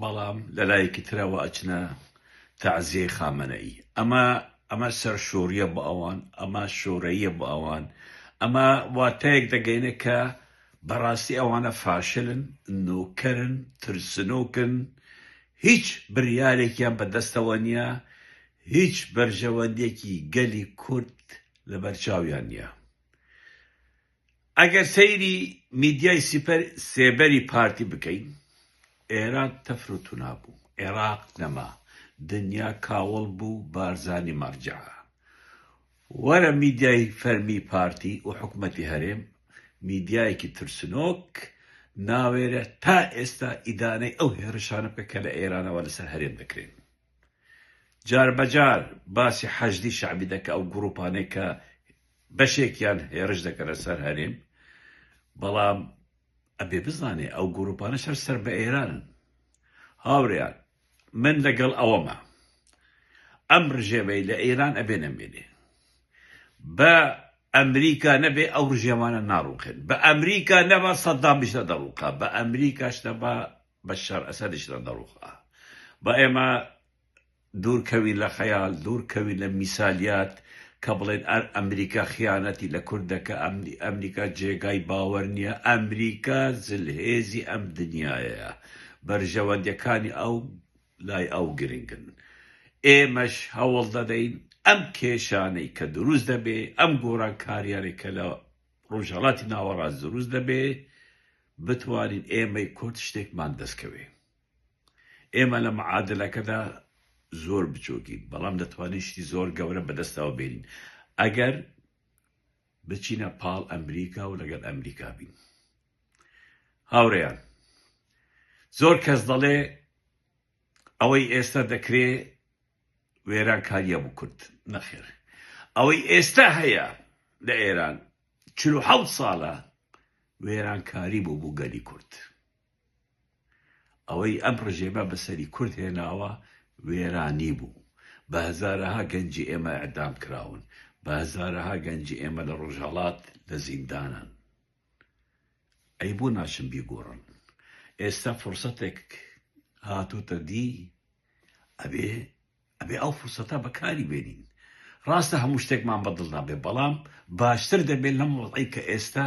بەڵام لە لایەکی ترەوە ئەچنە تەعزیەی خامەنەئی ئەمە ئەمە سەرشۆریە بۆ ئەوان ئەمە شۆرەییە بۆ ئەوان ئەمە واتایەک دەگەینە کە بەڕاستی ئەوانە فاشلن نۆکەرن ترسنۆکن هیچ بریارێکیان بەدەستەوە نییە هیچ بەرژەوەندێکی گەلی کورد لەبەرچاویان نییە. ئەگەر سەیری میدیای سپر سێبەری پارتی بکەین ئێران تەفر و تونا بوو ئێراق نەما دنیا کاوڵ بوو بارزانی مەڕجەعە وەرە میدیای فەرمی پارتی و حکومەتی هەرێم میدیایەکی ترسنۆک ناوێرێ تا ئێستا ئیدانەی ئەو هێڕشانە بکە کە لە ئێرانەوە لەسەر هەرێم دەکرێن. جاربەجار باسی حەشدی شەعبی دەکا ئەو گروپانەی کە بەشێکیان هێرش دەکەنە سەر هەرێم بەڵام ئەبێ بزانێ ئەو گروپانە سەر سەر بە ئێرانن هاوریان من لەگەڵ ئەوەمە ئەم ڕژێمەی لە ئێران ئەبێ نەمێنێ بە ئەمریکا نەبێ ئەو ڕژێمانە ناڕوخێن بە ئەمریکا نەبا سەددامیش نەدەڕووقا بە ئەمریکاش نەبا بەشار ئەسەدیش لە دەڕوخ ئا با ئێمە دوور کەوین لە خەیال دوور کەوین لە میسالیات کە بڵێن ئەر ئەمریکا خیانەتی لە کورد دەکە ئەمنی ئەمریکا جێگای باوەر نییە ئەمریکا زلهێزی ئەم دنیایەیە بەرژەوەندەکانی ئەو لای ئەو گرنگن ئێمەش هەوڵ دەدەین ئەم کێشانەی کە دروست دەبێ ئەم گۆران کاریانێک کە لە ڕۆژهڵاتی ناوەڕاست دروست دەبێ بتوانین ئێمەی کورد شتێکمان دەستکەوێ. ئێمە لە معادلەکەدا زۆر بچووکین، بەڵام دەتوانین شتی زۆر گەورە بەدەستەوە بێنین ئەگەر بچینە پاڵ ئەمریکا و لەگەڵ ئەمریکا بین. هاوڕێیان زۆر کەس دەڵێ ئەوەی ئێستا دەکرێ وێرانکاریە بکرد نەخێر ئەوەی ئێستا هەیە لە ئێران چل و حەوت ساڵە وێرانکاری بوو بۆ گەلی کورد ئەوەی ئەم ڕژێمە بەسەری کورد هێناوە وێرانی بوو بە هەزارەها گەنجی ئێمە ئیعدام کراون بە هەزارەها گەنجی ئێمە لە ڕۆژهەڵات لە زیندانن ئەی بۆ ناچن بیگۆڕن ئێستا فرسەتێک هاتۆتە دی ئەبێ ئەبێ ئەو فرسەتە بەکاری بێنین. ڕاستە هەموو شتێکمان بە دڵدا بێ بەڵام باشتر دەبێ لەم وەزعەی کە ئێستا